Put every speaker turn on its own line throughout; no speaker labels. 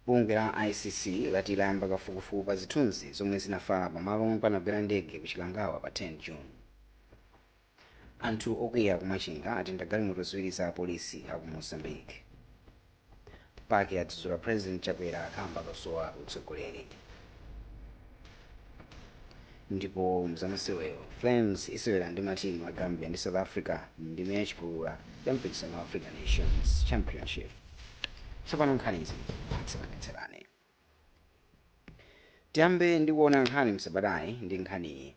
Bungwe la ICC lati layamba kafukufuku pa zithunzi zomwe zinafala pa malo omwe panagwera ndege ku Chikangawa pa 10 June. Anthu okwiya ku Machinga atentha galimoto ziwiri za apolisi aku Mozambique. PAC yadzudzula President Chakwera kamba kosowa utsogoleri. Ndipo mzamasewero, Flames isewera ndi matimu a Gambia ndi South Africa mndime ya chipulula ya mpikisano wa Africa Nations Championship. Tsopano nkhani izi mwatsatanetsatane. Tiyambe ndi kuona nkhani msabatayi ndi nkhaniyi.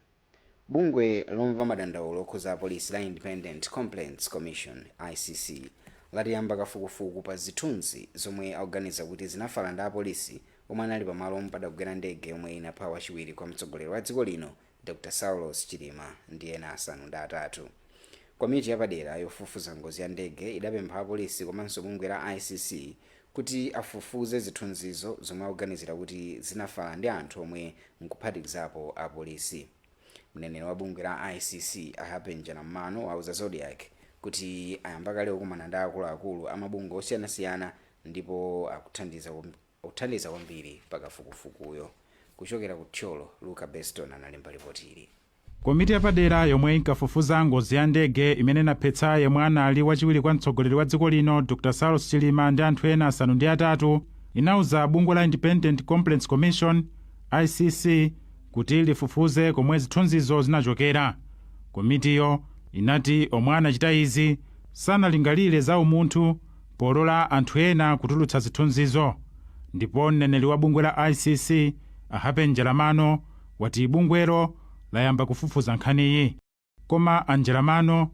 Bungwe lomva madandaulo okhuza apolisi la Independent Complaints Commission, ICC, lati yamba kafukufuku pa zithunzi zomwe akuganiza kuti zinafala ndi apolisi omwe anali pa malo omwe padagwera ndege yomwe inapha wachiwiri kwa mtsogoleri wa dziko lino Dr Saulos Chilima ndi ena asanu ndi atatu. Komiti yapadera yofufuza ngozi ya ndege idapempha apolisi komanso bungwe la ICC kuti afufuze zithunzizo zomwe akuganizira kuti zinafala ndi anthu omwe nkuphatikizapo apolisi. Mneneri wa bungwe la ICC a Happy Njalam'mano wauza Zodiak kuti ayamba kale kukumana ndi akuluakulu a mabungwe osiyanasiyana ndipo akuthandiza akuthandiza kwambiri pa kafukufukuyo. Kuchokera ku Thyolo, Luka Beston analemba lipoti ili. Komiti yapadera
yomwe inkafufuza ngozi ya ndege imene inaphetsa yemwe anali wachiwiri kwa mtsogoleri wa dziko lino Dr Saulos Chilima ndi anthu ena asanu ndi atatu inauza bungwe la Independent Complaints Commission, ICC, kuti lifufuze komwe zithunzizo zinachokera. Komitiyo inati omwe anachita izi sanalingalire za umunthu polola anthu ena kutulutsa zithunzizo ndipo mneneri wa bungwe la ICC a Happy Njalam'mano wati bungwelo layamba kufufuza nkhaniyi. Koma a Njalam'mano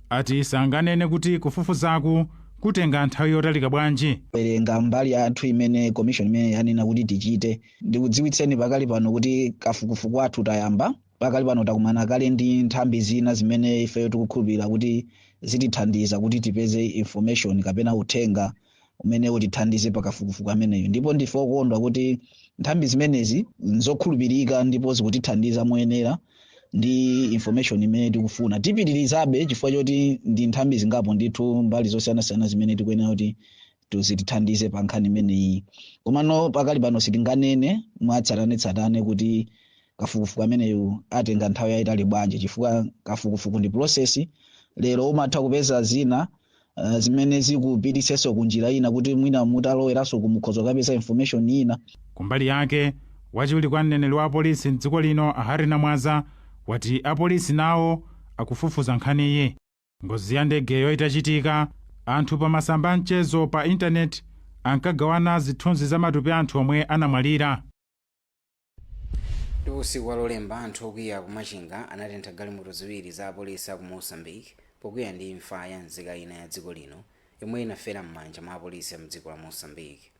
ati sanganene kuti kufufuzaku kutenga nthawi yotalika bwanji. werenga mbali yathu
imene commission imeneyi yanena kuti tichite. Ndikudziwitseni pakali pano kuti kafukufuku wathu tayamba pakali pano takumana kale ndi nthambi zina zimene ifeyo tikukhulupirira kuti zitithandiza kuti tipeze information kapena uthenga umene utithandize pakafukufuku ameneyo ndipo ndife okondwa kuti nthambi zimenezi nzokhulupirika ndipo zikutithandiza moyenera ndi information imene tikufuna tipitirizabe chifukwa choti ndi nthambi zingapo ndithu mbali zosiyanasiyana zimene tikuyenera kuti tu- zitithandize pa nkhani imeneyi komano pakali pano sitinganene mwatsatanetsatane kuti kafukufuku ameneyu atenga nthawi yayitali bwanji chifukwa kafukufuku ndi process lero umatha kupeza zina uh, zimene zikupititsenso ku njira ina kuti mwina mutaloweranso mukhoza kapeza information ina kumbali
yake wachiwiri kwa mneneri wa apolisi mdziko lino a Harry Namwaza wati apolisi nawo akufufuza nkhaniyi Ngozi ya ndegeyo itachitika, anthu pa masamba a mchezo pa intaneti ankagawana zithunzi za matupi a anthu omwe anamwalira.
Ndipo usiku wa Lolemba, anthu okwiya ku Machinga anatentha galimoto ziwiri za apolisi a ku Mozambique pokwiya ndi imfa ya nzika ina ya dziko lino yomwe inafera m'manja mwa apolisi a mdziko la Mozambique.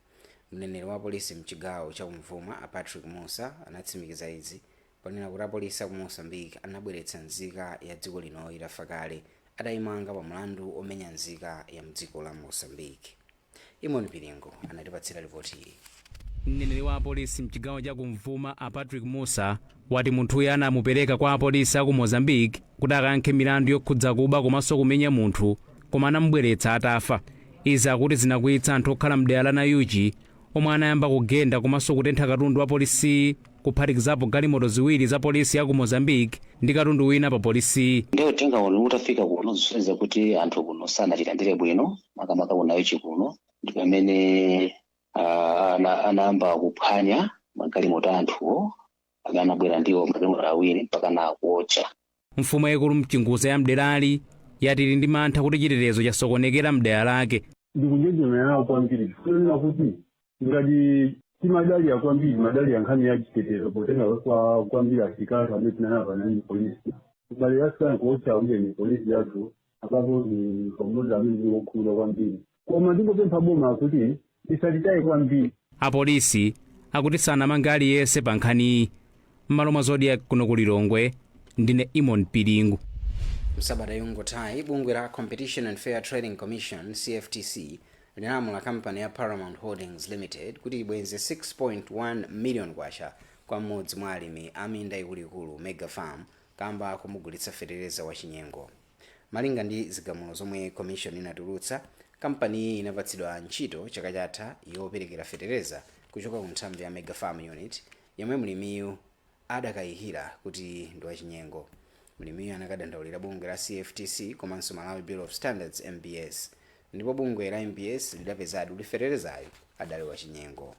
Mneneri wa apolisi mchigawo cha kumvuma a Patrick Mussa anatsimikiza izi Ponena kuti apolisi aku Mozambique anabweretsa nzika ya dziko lino itafa kale atayimanga pa mlandu omenya nzika ya mdziko la Mozambique. Eamon Piringu anatipatsira lipotili. Mneneri wa
apolisi mchigawo cha kumvuma a Patrick Mussa wati munthuyu anamupereka kwa apolisi aku Mozambique kuti akayankhe milandu yokhudza kuba komanso kumenya munthu koma anamubweretsa atafa. Izi akuti zinakwiyitsa anthu okhala mdera la Nayuchi omwe anayamba kugenda komanso kutentha katundu wa polisiyi. kuphatikizapo galimoto ziwiri za polisi ya ku Mozambique ndi katundu wina pa polisiyi. Nde uthenga
uno utafika kuno zisonyeza kuti anthu kuno sanachilandire bwino makamaka ku Nayuchi kuno ndi pamene ah, ana- anayamba kuphwanya magalimoto a anthuwo amene anabwera nawo magalimoto awiri mpaka na kuotcha Mfumu
yaikulu Mchinguza ya mderali yati ili ndi mantha kuti chitetezo chasokonekera mdera lake. ndikunjenjemera
kwambiri kunena kuti ngati timadalira kwambiri timadalira nkhani ya chitetezo potenga kwa kwambiri asilikali amene tili nawo pano ndi polisi mbali yasiyana kuotcha amene ni polisi yathu apapo ni pamozi amene ni wokhumudwa kwambiri koma ndingopempha boma kuti lisatitaye kwambiri
apolisi akuti sanamange aliyense pa nkhaniyi m'malo mwa zodiak kuno ku lilongwe ndine eamon piringu msabata
yangothayi bungwe la competition and fair trading commission cftc linalamula kampani ya Paramount Holdings Limited kuti ibwenze 6.1 million kwacha kwa mmodzi mwa alimi a minda ikuluikulu Mega Farm kamba komugulitsa fetereza wa chinyengo. Malinga ndi zigamulo zomwe commission inatulutsa, kampaniyi inapatsidwa ntchito chaka chatha yoperekera fetereza kuchoka ku nthambi ya Mega Farm Unit yomwe mlimiyu adakayikira kuti ndi wachinyengo, mlimiyu anakadandaulira bungwe la CFTC komanso Malawi Bureau of Standards, MBS, ndipo bungwe la MBS lidapezadi kuti feterezayu adali wachinyengo.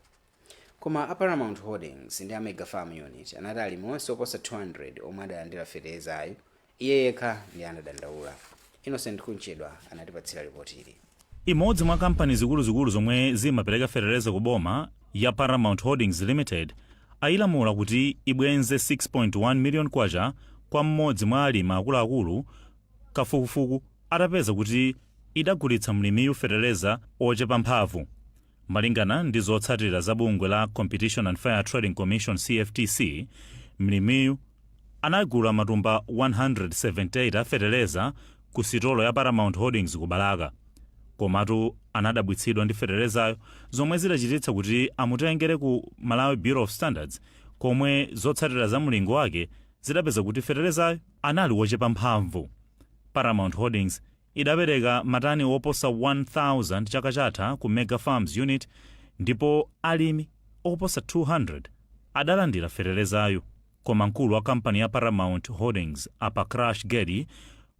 Koma a Paramount Holdings ndi a Mega Farm Unit anati alimi onse oposa 200 omwe adalandira feterezayu Iye yekha ndiye anadandaula. Innocent Kunchedwa anatipatsira lipotili. Imodzi
mwa kampani zikuluzikulu zomwe zimapereka fetereza ku boma ya Paramount Holdings Limited ayilamula kuti ibwenze 6.1 million kwacha kwa mmodzi mwa alimi akuluakulu kafukufuku atapeza kuti idagulitsa mlimiyu fetereza ochepa mphamvu. Malingana ndi zotsatira za bungwe la Competition and Fair Trading Commission, CFTC, mlimiyu anagula matumba 178 a fetereza ku sitolo ya Paramount Holdings ku Balaka. Komatu anadabwitsidwa ndi feterezayo zomwe zidachititsa kuti amutengere ku Malawi Bureau of Standards komwe zotsatira za mlingo wake zidapeza kuti feterezayo anali wochepa mphamvu. Paramount Holdings idapereka matani oposa 1,000 chaka chatha ku Mega Farms Unit ndipo alimi oposa 200 adalandira feterezayu koma mkulu wa kampani ya Paramount Holdings a Prakash Gedi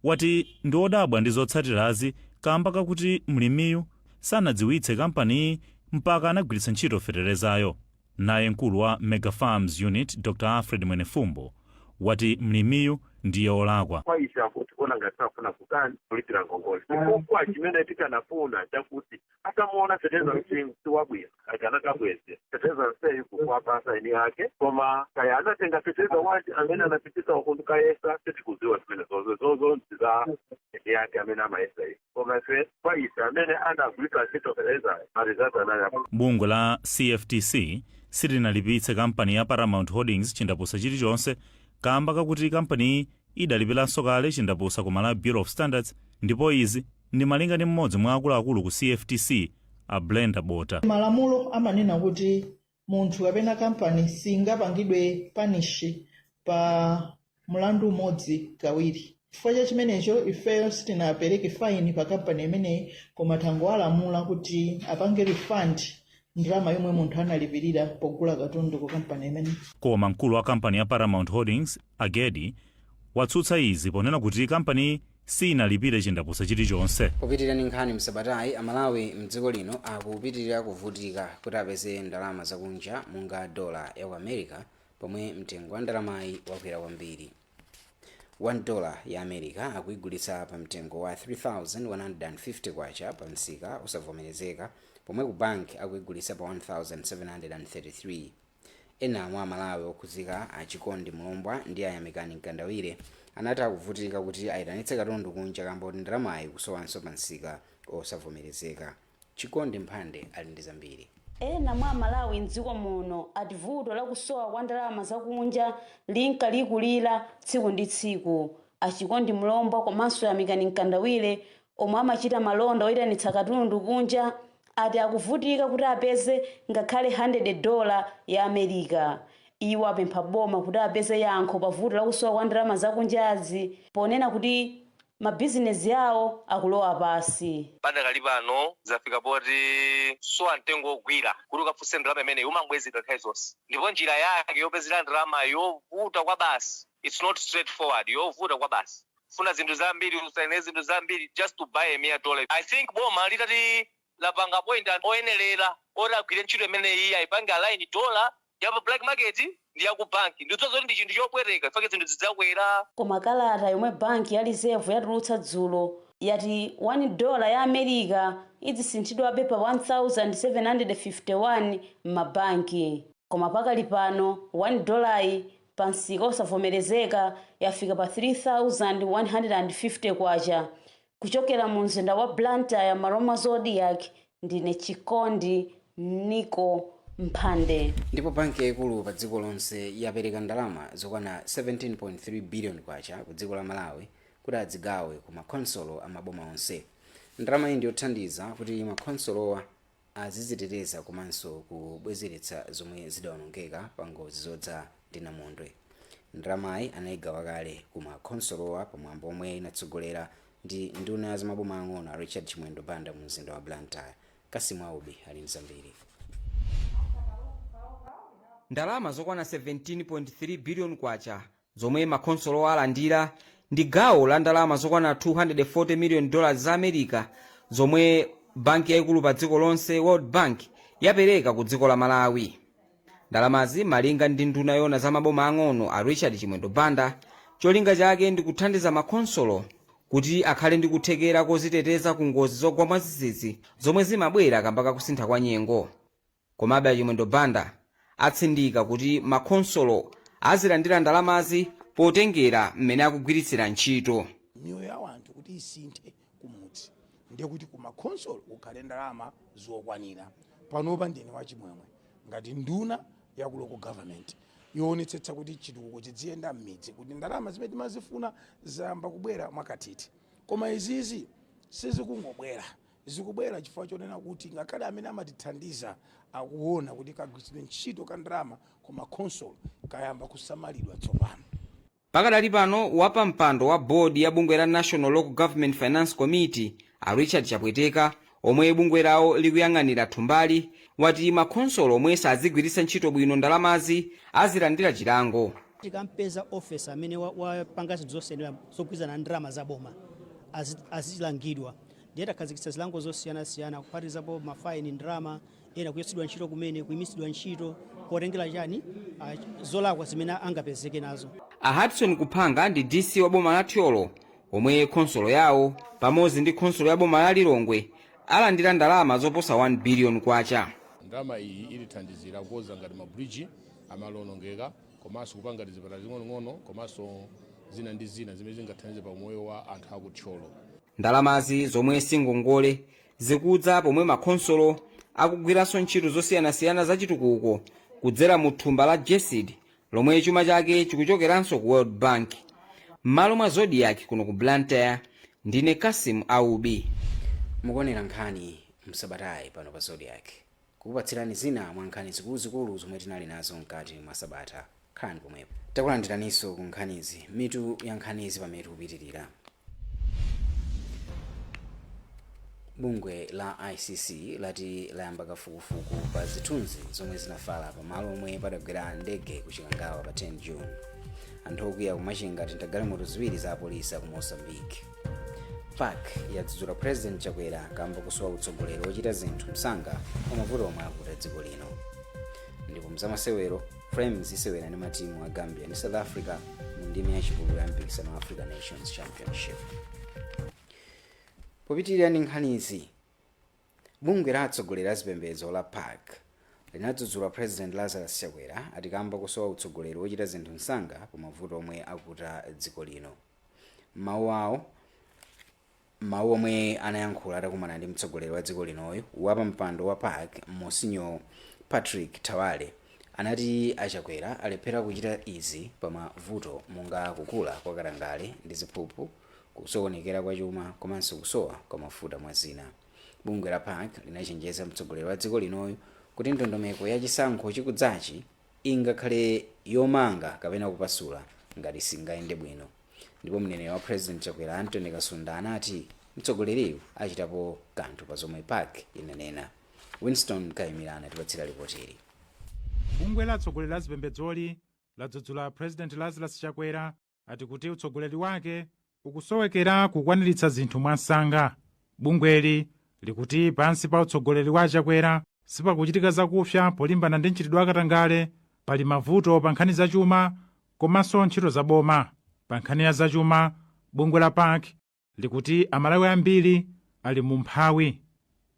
wati ndi odabwa ndi zotsatirazi kaamba kakuti mlimiyu sanadziwitse kampaniyi mpaka anagwiritsa ntchito feterezayo. Naye mkulu wa Mega Farms Unit Dr Alfred Mwenefumbo wati mlimiyu ndiye olakwa. Kwa ife anthu tikuona
ngati safuna kutani kulipira ngongole chifukwa chimene tikanafuna chakuti atamuona feteleza si wabwino akanakabweza feteleza mseyi kukwapasa eni ake koma kaya anatenga feteleza wanji amene anapitisa ukundukayesa sitikuziwa zimenezozo zozo ndi za eni ake amene amayesa izi koma ife kwa ife amene anagwiritsa ntchito fertilizer ma results anali abwino bungwe
la cftc silinalipitse kampani ya paramount holdings chindapusa chilichonse kamba kakuti kampaniyi idalipiranso kale chindapusa ku malawi bureau of standards ndipo izi ndi malinga ndi mmodzi mwa akuluakulu ku cftc a brenda bota malamulo amanena
kuti munthu kapena kampani singapangidwe panishi pa mlandu umodzi kawiri chifukwa cha chimenecho ifeyo sitinapereke faini pa kampani imeneyi koma tangowalamula kuti apange refund ndalama yomwe munthu analipirira pogula katundu ku kampani imeneyi koma mkulu wa kampani
ya paramount holdings a gedi watsutsa izi ponena kuti kampaniyi siinalipire chindapusa chilichonse. Popitilira ndi nkhani
msabatayi, a Malawi mdziko lino akupitilira kuvutika kuti apeze ndalama zakunja monga dollar ya ku America pomwe mtengo wa ndalamayi wakwera kwambiri. 1 dollar ya America akuyigulitsa pa mtengo wa K3,150 pa msika osavomerezeka pomwe ku bank akuyigulitsa pa K1,733. Ena mwa Amalawi okhuzika a Chikondi Mlombwa ndi a Yamikani Mkandawire anati akuvutika kuti ayitanitse katundu kunja kamba koti ndalamayi ikusowanso pa msika osavomerezeka. Chikondi Mphande ali ndi zambiri. Ena mwa
Amalawi m'dziko muno ati vuto la kusowa kwa ndalama za kunja linka likulira tsiku ndi tsiku. A Chikondi Mlombwa komanso Yamikani Mkandawire Omwe amachita malonda oitanitsa katundu kunja ati akuvutika kuti apeze ngakhale handede dola ya America. Iwo apempha boma kuti apeze yankho pa vuto lakusowa kwa ndalama zakunjazi ponena kuti mabizinezi awo akulowa pansi. Padakali
pano zafika poti kusowa mtengo ogwira kuti ukafunse ndalama imeneyi umangobwezedwa nthawi zonse ndipo njira yake yopezera ndalamayi yovuta kwabasi, its not straight forward, yovuta kwabasi. funa zinthu zambiri usaine zinthu zambiri just to buy a mere dollar I think boma litati lapanga point oyenelera oti agwire ntchito imeneyi aipange align dollar ya pa black market ndi ya ku bank ndidziwa zoti ndi chinthu chopweteka chifukwa zinthu zidzakwera Koma kalata
yomwe banki ya Reserve yatulutsa dzulo yati 1 dollar ya America idzisinthidwabe pa 1,751 m'mabanki. Koma pakali pano 1 dollar-yi pa msika osavomerezeka yafika pa K3,150 Kuchokera mu mzinda wa Blantyre m'malo mwa Zodiak ndine Chikondi Mniko Mphande. Ndipo banki yaikulu
pa dziko lonse yapereka ndalama zokwana K17.3 billion ku dziko la Malawi kuti adzigawe ku ma khonsolo a maboma onse. Ndalamayi ndiyothandiza kuti makhonsolowa aziziteteza komanso kubwezeretsa zomwe zidaonongeka pa ngozi zodza ndi namondwe. Ndalamayi anaigawa kale ku ma khonsolowa pa mwambo omwe inatsogolera ndi nduna ya zamaboma ang'ono a Richard Chimwendo Banda mu mzinda wa Blantyre. Cassim Aubi ali ndi zambiri.
Ndalama zokwana K17.3 billion Zomwe makhonsolo alandira ndi gawo la ndalama zokwana 240 miliyoni dollars za America zomwe banki yaikulu pa dziko lonse, World Bank, yapereka ku dziko la Malawi. Ndalamazi malinga ndi nduna yoona za maboma ang'ono a Richard Chimwendo Banda, cholinga chake ndi kuthandiza makhonsolo kuti akhale ndi kuthekera koziteteza ku ngozi zogwa mwazizizi zomwe zimabwera kamba ka kusintha kwa nyengo. Komabe a Chimwendo Banda atsindika kuti ma khonsolo azilandira ndalamazi potengera mmene akugwiritsira ntchito. miyoyo ya wanthu
kuti isinthe kumudzi ndiye kuti ku ma khonsolo kukhale ndalama zokwanira. Panopa ndine wachimwemwe ngati nduna ya ku local government yoonetsetsa kuti chitukuko chidziyenda m'midzi kuti ndalama zimene timazifuna zayamba kubwera mwakathithi. Koma izizi sizikungobwera. Zikubwera chifukwa chonena kuti ngakhale amene amatithandiza akuona kuti kagwiritsidwe ntchito ka ndalama ku ma khonsolo kayamba kusamalidwa tsopano. Pakadali
pano, wapampando wa board ya bungwe la National Local Government Finance Committee, a Richard Chapweteka, omwe bungwe lawo likuyang'anira thumbali, wati ma khonsolo omwe sadzigwiritsa ntchito bwino ndalamazi azilandira chilango. Tikampeza
officer amene wapanga zinthu zosayenera zogwirizana ndi ndalama za boma, azilangidwa. ndiye takhazikitsa zilango zosiyanasiyana kuphatikizapo mafaini ndalama ena kuchotsedwa ntchito kumene kuyimitsidwa ntchito potengera chani ah, zolakwa zimene angapezeke nazo a hudson
kuphanga ndi dc wa boma la thyolo omwe khonsolo yawo pamodzi ndi khonsolo ya boma la lilongwe alandira ndalama zoposa 1 biliyoni kwacha ndalama
iyi itithandizira kukonza ngati mabridge amalo onongeka komanso kupanga tizipatala ting'onong'ono komanso zina ndi zina zimene zingathandize pa moyo wa anthu akuthyolo
Ndalamazi zomwe si ngongole zikudza pomwe makhonsolo akugwiranso ntchito zosiyanasiyana za chitukuko kudzera mu thumba la GESD lomwe chuma chake chikuchokeranso ku World Bank. M'malo mwa Zodiak kuno ku Blantyre, ndine Cassim Aubi.
mukuonera nkhani msabatayi pano pa zodiak kukupatsirani zina mwa nkhani zikuluzikulu zomwe tinali nazo mkati mwa sabata khalani pomwepo takulandiraninso ku nkhanizi mitu ya nkhanizi pamene tikupitirira bungwe la icc lati layamba kafukufuku pa zithunzi zomwe zinafala pamalo omwe padagwera ndege ku chikangawa pa 10 june anthu okwiya kumachinga atentha galimoto ziwiri za apolisi aku mozambique pac yadzudzula president chakwera kamba kusowa utsogoleri wochita zinthu msanga pa mavuto omwe akuta dziko lino ndipo mzamasewero flames isewera ndi matimu a gambia ndi south africa mu ndime yachipulula ya mpikisano wa africa nations championship popitirira ndi nkhanizi bungwe la atsogoleri a zipembedzo la pac linadzudzula president lazarus chakwera ati kamba kusowa utsogoleri wochita zinthu msanga pa mavuto omwe akuta dziko lino m'mawu awo M'mawu omwe anayankhula atakumana ndi mtsogoleri wa dziko linoyu, wapampando wa pac Monsignor Patrick Thawale anati a Chakwera alephera kuchita izi pa mavuto monga kukula kwa katangale ndi ziphuphu, kusokonekera kwa chuma komanso kusowa kwa mafuta mwa zina. Bungwe la pac linachenjeza mtsogoleri wa dziko linoyu kuti ndondomeko ya chisankho chikudzachi, ingakhale yomanga kapena kupasula ngati singayende bwino ndipo mneneri wa president Chakwera Anthony Kasunda anati mtsogoleriyu achitapo kanthu pa zomwe pac inanena. Winstone Kaimira anatipatsira lipotili. Bungwe
la atsogoleri a zipembedzoli ladzudzula President Lazarus Chakwera ati kuti utsogoleri wake ukusowekera kukwaniritsa zinthu mwansanga bungweli likuti pansi pa utsogoleri wa a chakwera sipakuchitika zakupsa polimbana ndi mchitidwe wa katangale pali mavuto pa nkhani zachuma komanso ntchito za boma pa nkhani ya zachuma bungwe la pac likuti Amalawi ambiri ali m'umphawi.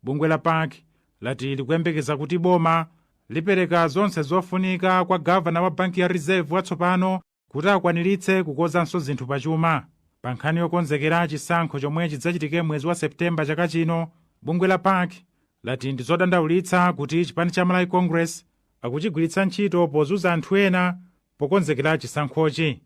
Bungwe la pac lati likuyembekeza kuti boma lipereka zonse zofunika kwa gavana wa banki ya Reserve watsopano kuti akwaniritse kukonzanso zinthu pachuma. Pa nkhani yokonzekera chisankho chomwe chidzachitike mwezi wa September chaka chino, bungwe la pac lati ndi zodandaulitsa kuti chipani cha Malawi Congress akuchigwiritsa ntchito pozunza anthu ena pokonzekera chisankhochi.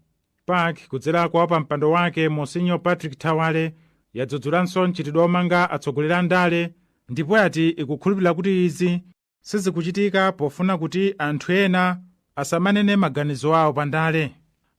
Pac kudzera kwa wapa mpando wake Monsignor Patrick Thawale yadzudzulanso mchitidwe omanga atsogoleri a ndale ndipo yati ikukhulupirira kuti izi sizikuchitika pofuna kuti anthu ena asamanene maganizo awo pa ndale.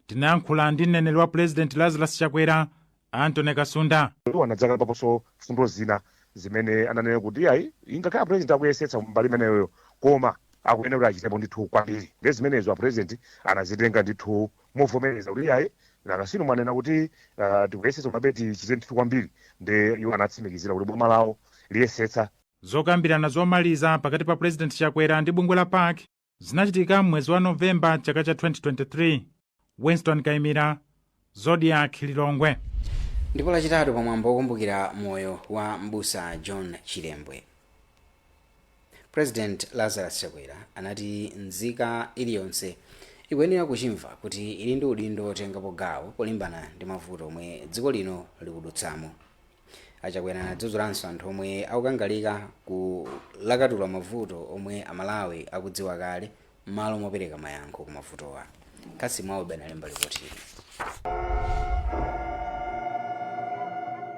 Tinayankhula ndi mneneri wa Pulezidenti Lazarus Chakwera Anthony Kasunda. Iwo anadzakambaponso
mfundo zina zimene ananena kuti iyayi ingakhale a president akuyesetsa mbali imeneyoyo koma akuyenera kuti achitepo ndithu kwambiri. Ndiye zimenezo a president anazitenga ndithu movomereza kuti iyayi nanga si inu mwanena kuti ah, tikuyesetsa komabe tichite ndithu kwambiri. Ndiye iwo anatsimikizira kuti boma lawo liyesetsa Zokambirana
zomaliza pakati pa President Chakwera ndi bungwe la pac zinachitika m'mwezi wa novemba chaka cha 2023 winston kaimira zodiak lilongwe ndipo
lachitatu pa mwambo wokumbukira moyo wa mbusa john chilembwe president lazarus chakwera anati nzika iliyonse ikuyenera kuchimva kuti ili ndi udindo wotengapo gawo polimbana ndi mavuto omwe dziko lino likudutsamo A Chakwera anadzudzulanso anthu omwe akukangalika kulakatula mavuto omwe a Malawi akudziwa kale mmalo mopereka mayankho ku mavutowa. Cassim Aubi analemba lipotili.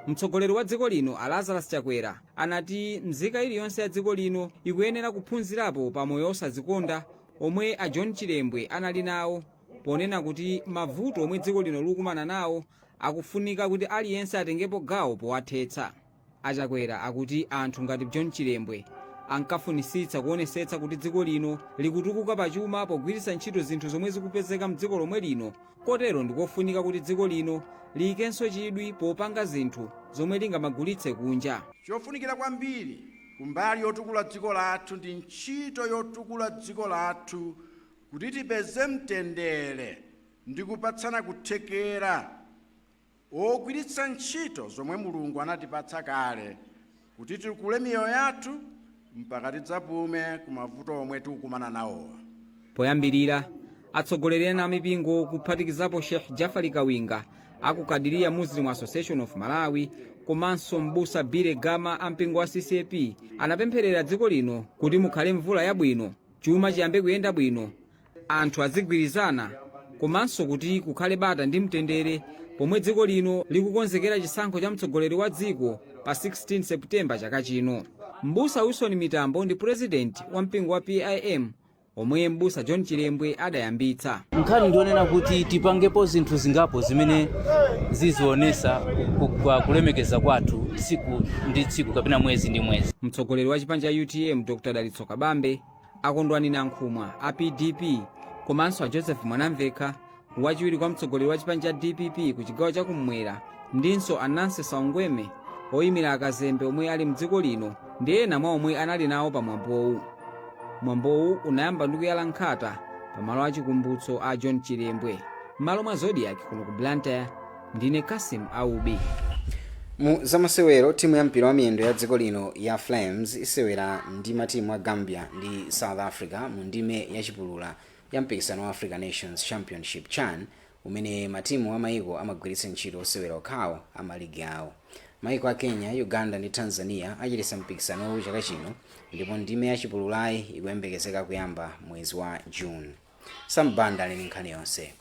Mtsogoleri wa dziko lino a Lazarus Chakwera anati mzika iliyonse ya dziko lino ikuyenera kuphunzirapo pa moyo osadzikonda omwe a John Chilembwe anali nawo ponena kuti mavuto omwe dziko lino likukumana nawo Akufunika kuti aliyense atengepo gawo powathetsa. A Chakwera akuti anthu ngati John Chilembwe ankafunitsitsa kuonesetsa kuti dziko lino likutukuka pa chuma pogwiritsa ntchito zinthu zomwe zikupezeka mdziko lomwe lino kotero ndikofunika kuti dziko lino liyikenso chidwi popanga zinthu zomwe lingamagulitse kunja. Chofunikira
kwambiri kumbali yotukula dziko lathu ndi ntchito yotukula dziko lathu kuti tipeze mtendere ndi kupatsana kuthekera wogwiritsa ntchito zomwe Mulungu anatipatsa kale kuti titukule miyoyo yathu mpaka tidzapume ku mavuto omwe tikukumana nawo. Poyambirira,
atsogoleri ena a mipingo kuphatikizapo Sheikh Jafari Kawinga a ku Qadiriya Muslim Association of Malawi komanso m'busa Billy Gama a mpingo wa CCAP anapempherera dziko lino kuti mukhale mvula yabwino, chuma chiyambe kuyenda bwino, anthu azigwirizana komanso kuti kukhale bata ndi mtendere pomwe dziko lino likukonzekera chisankho cha mtsogoleri wa dziko pa 16 September chaka chino. Mbusa Wilson Mitambo ndi purezidenti wa mpingo wa PIM omwe mbusa John Chilembwe adayambitsa. nkhani ndi
yonena kuti tipangepo zinthu zingapo zimene zizionesa ku- kwa kulemekeza kwathu tsiku ndi tsiku kapena mwezi ndi mwezi Mtsogoleri wa chipani cha
UTM Dr. Dalitso Kabambe a kondwani nankhumwa a pdp komanso a joseph mwanamvekha wachiwiri kwa mtsogoleri wa chipani cha dpp ku chigawo cha kummwera ndinso a nancy saungweme oyimira akazembe omwe ali mdziko lino ndi ena mwa omwe anali nawo pa mwambowu mwambowu unayamba ndi kuyala nkhata pamalo achikumbutso a john chilembwe m'malo mwa zodiak kuno ku blantyre ndine kasim aubi
mu zamasewero timu ya mpira wa miyendo ya dziko lino ya flames isewera ndi matimu a gambia ndi south africa mu ndime ya chipulula ya mpikisano wa africa nations championship chan umene matimu a maiko amagwiritsa ntchito osewera okhawo a maligi awo maiko a kenya uganda ndi tanzania achititsa mpikisanowu chaka chino ndipo ndime ya chipululayi ikuyembekezeka kuyamba mwezi wa june sam banda ali ndi nkhani yonse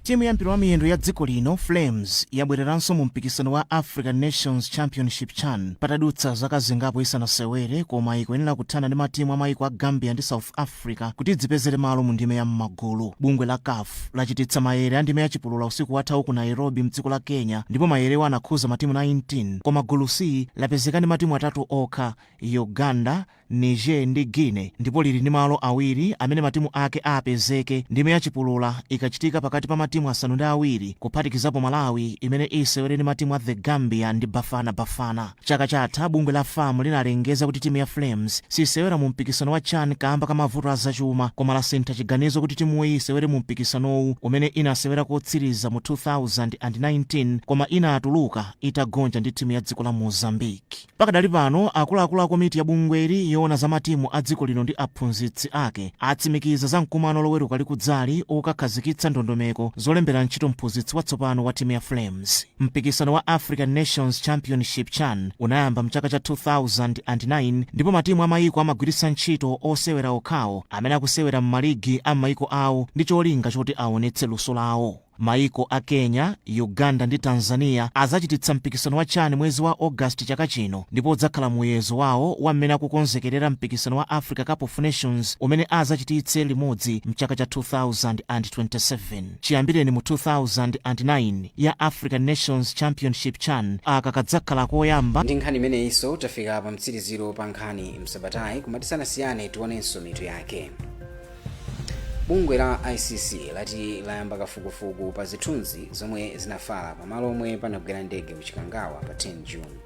Timu ya mpira
wa miyendo ya dziko lino, Flames, yabwereranso mu mpikisano wa African Nations Championship, chan, patadutsa zaka zingapo isanasewere koma ikuyenera kuthana ndi matimu a maiko a Gambia ndi South Africa kuti idzipezere malo mu ndime ya m'magulu. Bungwe la caf lachititsa mayere a ndime ya chipulula usiku wathawu ku Nairobi mdziko la Kenya ndipo mayerewa anakhudza matimu 19 koma gulu C lapezeka ndi matimu atatu okha, Uganda, Niger ndi Guinea ndipo lili ndi malo awiri amene matimu ake apezeke ndime ya chipulula ikachitika pakati pa matimu asanu ndi awiri kuphatikizapo Malawi imene isewere ndi matimu a The Gambia ndi Bafana Bafana. Chaka chatha bungwe la fam linalengeza kuti timu ya Flames sisewera mu mpikisano wa chan kaamba ka mavuto a zachuma koma lasintha chiganizo kuti timuyi isewere mu mpikisanowu umene inasewera kotsiriza mu 2019 koma inatuluka itagonja ndi timu ya dziko la Mozambique. Pakadali pano, akuluakulu a komiti ya bungweli yoona za matimu a dziko lino ndi aphunzitsi ake atsimikiza za mkumano loweruka likudzali okakhazikitsa ndondomeko zolembera ntchito mphunzitsi watsopano wa timu ya Flames. Mpikisano wa African Nations Championship, chan, unayamba mchaka cha 2009 ndipo matimu a mayiko amagwiritsa ntchito osewera okhawo amene akusewera mmaligi a mmayiko awo ndi cholinga choti awonetse luso lawo. Maiko a Kenya, Uganda ndi Tanzania azachititsa mpikisano wa chan mwezi wa August chaka chino ndipo udzakhala muyezo wawo wa mmene akukonzekerera mpikisano wa Africa Cup of Nations umene azachititse limodzi mchaka cha 2027. Chiyambireni mu 2009, ya African Nations Championship chan, aka kadzakhala koyamba. Ndi nkhani imeneyinso
tafika pa mtsiriziro pa nkhani msabatayi, koma tisanasiyane tionenso mitu yake. bungwe la icc lati layamba kafukufuku pa zithunzi zomwe zinafala pamalo omwe panagwera ndege ku chikangawa pa 10 june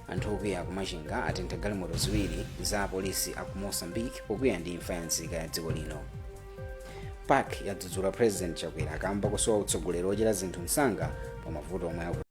anthu okwiya kumachinga atentha galimoto ziwiri za apolisi aku moçambique pokwiya ndi imfa ya nzika ya dziko lino pac yadzudzula president chakwera kamba kosowa utsogoleri ochita zinthu msanga pa mavuto omwe aku